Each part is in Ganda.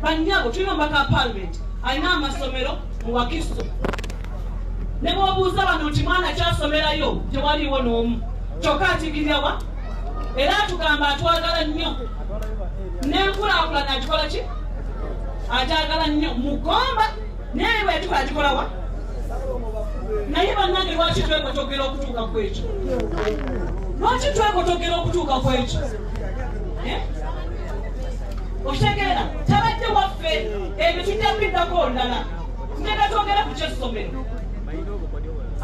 Bannyabo tulina omubaka wa paalimenti alina amasomero mu Wakiso. Ne bw'obuuza bano nti mwana kyasomerayo tewaliwo n'omu kyokka atigirira wa era atugamba atwagala nnyo n'enkulaakulana agikola ki agyagala nnyo mugomba naye bwe yatuka agikola wa naye bannange lwaki twekotogera okutuuka ku ekyo lwaki twekotogera okutuuka ku ekyo eh? okitegeera tabadde waffe ebyo tujja kubiddako olulala tugenda twogera ku kyessomero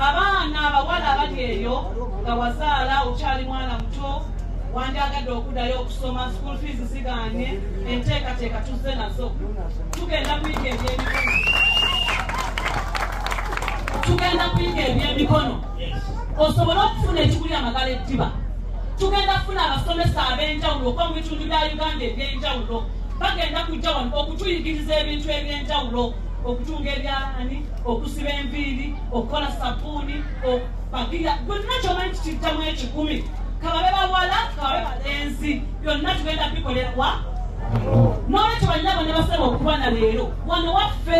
abaana abawala abali eyo nga wazaala okyali mwana muto wandyagadde okuddayo okusoma school fees zigaanye enteekateeka tuzze nazo tugenda kuyiga ebyemikono tugenda kuyiga ebyemikono osobole okufuna ekiguli amagala eddiba tugenda kufuna abasomesa ab'enjawulo okuba mu bitundu bya uganda eby'enjawulo bagenda kujja wano okutuyigiriza ebintu eby'enjawulo okutunga ebyalani okusiba enviiri okukola sabuuni okupagira byonna kyomanyi kikijjamu ekikumi kababe bawala kababe balenzi byonna tugenda bikolerwa n'olwekyo banyabo ne basaba okuba na leero wano waffe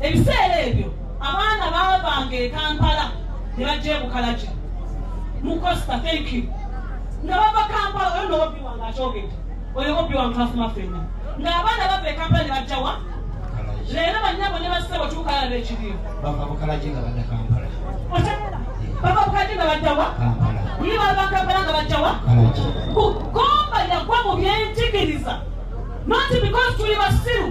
ebiseera ebyo abaana baavanga ekampala ne bajja ebukalaki mukosta thank you nga bava kampala oyo nobobi wange akyogedde oyo bobi wange twafuma fenna nga abaana bava ekampala ne bajjawa leero banyabo ne basebo tukalaba ekiriyo bava bukalaki nga badda kampala bava bukalaki nga bajjawa ye bava kampala nga bajjawa kugomba yagwa mu byenjigiriza noti because tuli basiru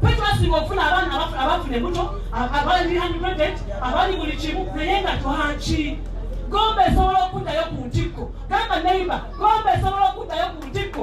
twetwasinga okufuna abaana abafuna ebuto abali unpregnant abali buli kimu naye nga twaki gomba esobola okuddayo ku ntikko gamba neiba gomba esobola okuddayo ku ntikko